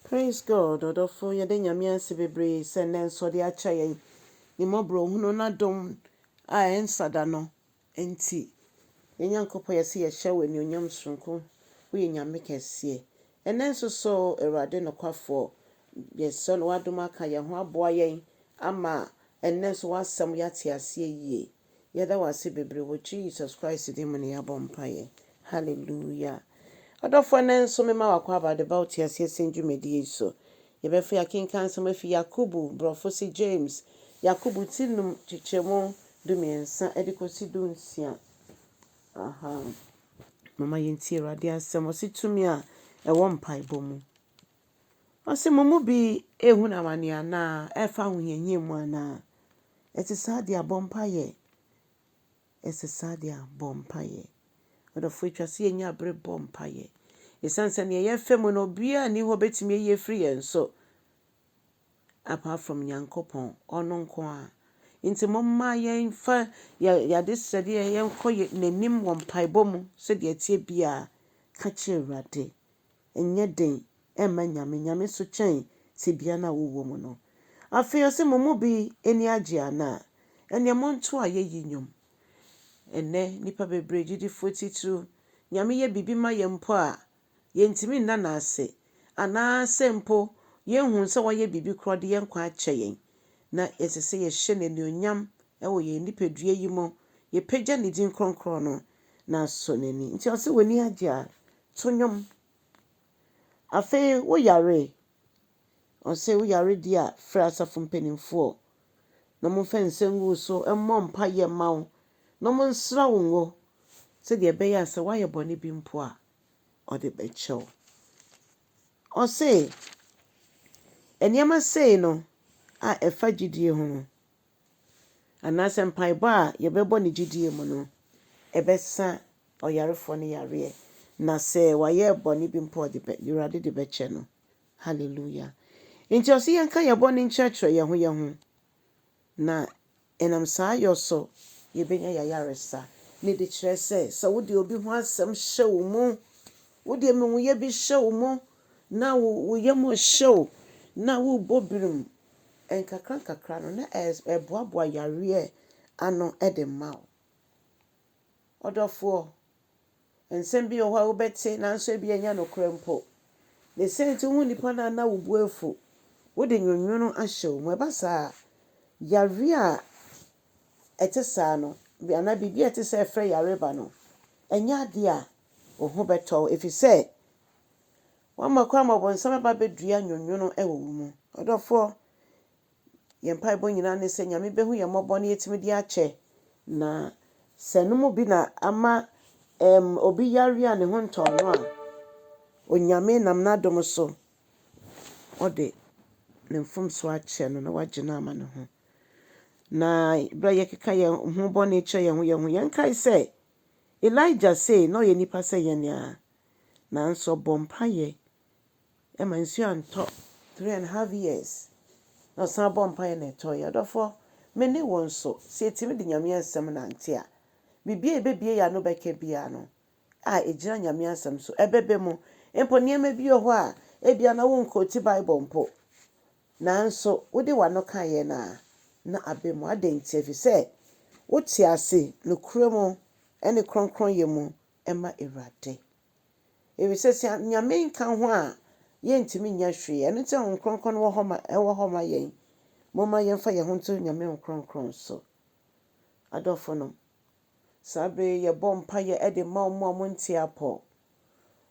Praise God ɔdɔfo yɛda Nyame ase bebree sɛ nnɛ nso ɔde akyɛ yɛn ne mmɔborɔhunu n'adom a ɛnsa da no nti. Yɛn Nyankopɔn yɛse yɛhyɛ wo anuonyam soronko woyɛ Nyame kɛseɛ ɛnnɛ nso so Awurade nokwafoɔ yɛsrɛ no w'adom aka yɛn ho aboa yɛn ama ɛnnɛ nso w'asɛm yɛate aseɛ yie. Yɛda wo ase bebree wɔ Jesus Christ din mu na yɛabɔ mpaeɛ. Hallelujah. Ɔdɔfoɔ ɛnnɛ nso mema wo akwaaba de ba wo te aseɛ sɛn dwumadie yi so. Yɛbɛfiri akenkan nsɛm afi Yakobo, brɔfo se James, Yakobo ti num kyekyɛmu du mmiɛnsa de kɔsi du nsia. Aha. Mama yɛntie Awurade asɛm. Ɔse tumi a ɛwɔ mpaebɔ mu. Ɔse, Mo mu bi rehunu amaneɛ anaa? Ɛfa ahohiahia mu anaa? Ɛte saa deɛ a, bɔ mpaeɛ. Ɛte saa deɛ a, bɔ mpaeɛ. Ɔdɔfo, ɛtwa sɛ yɛnya bere bɔ mpaeɛ. Ɛsiane sɛ neɛ yɛfa mu no, obiara nni hɔ a ɔbɛtumi ayi afiri yɛn so apart from Nyankopɔn, ɔno nko ara. Nti momma yɛmfa yɛn adesrɛdeɛ yɛnkɔ N'anim wɔ mpaebɔ mu sɛdeɛ ɛteɛ biara. Ka kyerɛ Awurade. nyɛ den mma Nyame, Nyame nso kyɛn tebea no a wowɔ mu no. Afei ɔse, mo mu bi ani agye anaa? Ɛneɛ monto ayɛyi nnwom. Ɛnnɛ nnipa bebree gyidifo titiriw, Nyame yɛ biribi ma yɛn mpo a, yɛntumi nna no ase, anaasɛ mpo yɛnhunu sɛ wayɛ biribi koraa ɔde yɛn nkwa akyɛ yɛn. Na ɛsɛ sɛ yɛhyɛ no anuonyam wɔ yɛn nipadua yi mu, yɛpagya ne din kronkron no, na asɔ n'ani. Nti ɔse, w'ani agye a, To nnwom. Afei wo yare, ɔse wo yare deɛ a frɛ asafo mpaninfoɔ na ɔmo nfa nsa ngu wo so mmɔ mpaeɛ mma wo na ɔmo nsra wo ngo sɛdeɛ ɛbɛyɛ a sɛ wayɛ bɔne bi mpo a ɔde bɛkyɛ wo. Ɔse nneɛma sei no a ɛfa gyidie ho no anaasɛ mpaebɔ a yɛbɛbɔ no gyedie mu no, ɛbɛsa ɔyarefoɔ no yareɛ. Na sɛ wayɛ bɔne bi mpo a, ɔde bɛ, Awurade de bɛkyɛ no. Hallelujah. Nti ɔse yɛnka yɛn bɔne nkyerɛkyerɛ yɛn ho yɛn ho, na ɛnam saa yɔ so yɛbɛnya yɛn ayaresa. Ne de kyerɛ sɛ, sɛ wode obi ho asɛm hyɛ wo mu, wode amumuyɛ bi hyɛ wo mu, na wo, wo yam hyɛ wo, na worebɔ birim nkakrankakra no na ɛboaboa yareɛ ano de ma wo. Ɔdɔfoɔ, nsɛm bi wɔ hɔ a wobɛte nanso ebi a ɛnyɛ nokorɛ mpo. Ne sɛ nti wohu nnipa no a na wo bo afu, wode nwonwono ahyɛ wɔn mu. Ɛba saa a, yareɛ a ɛte saa no anaa biribi a ɛte sɛ ɛfrɛ yare ba no, ɛnyɛ adeɛ a wo ho bɛtɔ wo ɛfiri sɛ Woamma kwan ma ɔbonsam aba abɛdua nwonwono wɔ wo mu. Ɔdɔfoɔ, yɛn mpaebɔ nyinaa ne sɛ Nyame bɛhu yɛn mmɔbɔ na yɛatumi de akyɛ. Na sɛ ɛno mu bi na ama ɛɛm obi yareɛ a ne ho ntɔɔ no a, Onyame nam N'adom so ɔde Ne mfomsoɔ akyɛ no na wagye no ama Ne ho. Na berɛ a yɛkeka yɛn ho bɔne kyerɛ yɛn ho yɛn ho, yɛnkae sɛ Elijah sei, na ɔyɛ nipa sɛ yɛn ara. Nanso ɔbɔ mpaeɛ ma nsuo antɔ three and half years na ɔsan bɔ mpaeɛ na ɛtɔeɛ. Ɔdɔfoɔ, me ne wo nso, sɛ yɛtumi de Nyame asɛm nante a, biribiara a yɛbɛbue yɛn ano bɛka biara no a ɛgyina Nyame asɛm so, ɛbɛba mu. Mpo nneɛma bi wɔ hɔ a, ebia na wonkoote Bible mpo, nanso wode w'ano kaeɛ no a, na aba mu. Adɛn nti? Ɛfiri sɛ wote ase nokorɛ mu ne kronkronyɛ mu ma Awurade. Efisɛ sɛ Nyame nka ho a, yɛntumi nyɛ hwee. Ɛno nti na Honhom Kronkron no wɔ hɔ ma, ɛwɔ hɔ ma yɛn. Momma yɛmfa yɛn ho nto Nyame Honhom Kronkron so. Adɔfonom, saa bere yi yɛbɔ mpaeɛ de ma wɔn a wɔnte apɔ.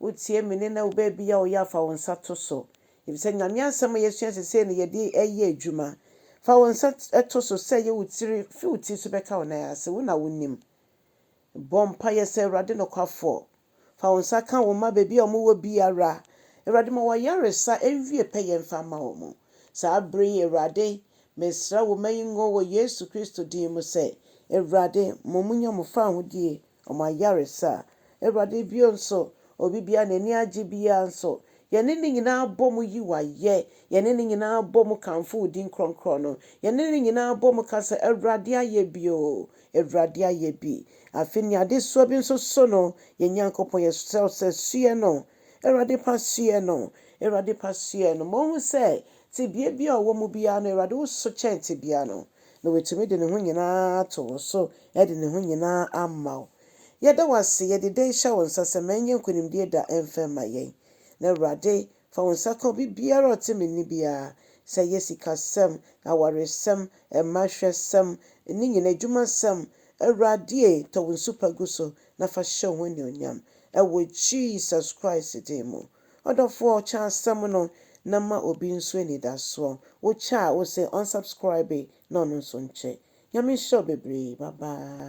Wotie me nne na wo baabi a woyɛ a fa wo nsa to so. Efisɛ Nyame Asɛm a yɛasua sesei no yɛde ɛyɛ adwuma. Fa wo nsa to so sɛ ɛyɛ wo tiri, fi wo tiri so bɛka wo nan ase, wo na wonim. Bɔ mpaeɛ sɛ, Awurade nokwafoɔ, fa wo nsa ka wo mma baabi a wɔwɔ biara. Awurade, ma wɔn ayaresa nwie pɛyɛ mfa mma wɔn. Saa berɛ yi, Awurade, mesrɛ wo, mma yi ngo wɔ Yesu Kristo din mu sɛ, Awurade, mo mu nya mo fawohodie wɔ mo ayaresa. Awurade, bio nso, obi biara a n'ani agye biara nso, yɛne ne nyinaa bɔ mu yi wo ayɛ, yɛne ne nyinaa bɔ mu kamfo wo din kronkron no, yɛne ne nyinaa bɔ mu ka sɛ, Awurade ayɛ bio, Awurade ayɛ bi. Afei nea adesoa bi nso so no, yɛn Nyankopɔn, yɛsrɛ wo sɛ soɛ no. Awurade pa soɛ no. Awurade pa soɛ no. Ma ɔnhu sɛ tebea biara a ɔwɔ mu biara no, Awurade wo so kyɛn tebea no, na watumi de ne ho nyinaa ato wo so, de ne ho nyinaa ama wo. Yɛda wo ase, yɛde dɛn hyɛ wo nsa sɛ ma ɛnyɛ nkonimdie da mfa mma yɛn. Na Awurade, Fa wo nsa ka obi biara a ɔte me nne biara, sɛ ɛyɛ sikasɛm, awaresɛm, mma hwɛsɛm, ne nyinaa, adwumasɛm, Awurade e, tɔ wo nsu pa gu so na fa hyɛ wo ho anuonyam, wɔ Jesus Christ din mu. Ɔdɔfoɔ, kyɛ asɛm no na ma obi nso anidasoɔ. Wo kyɛ a, wo se unsubscribe na ɔno nso nkyɛ. Nyame nhyira wo bebree, bye bye.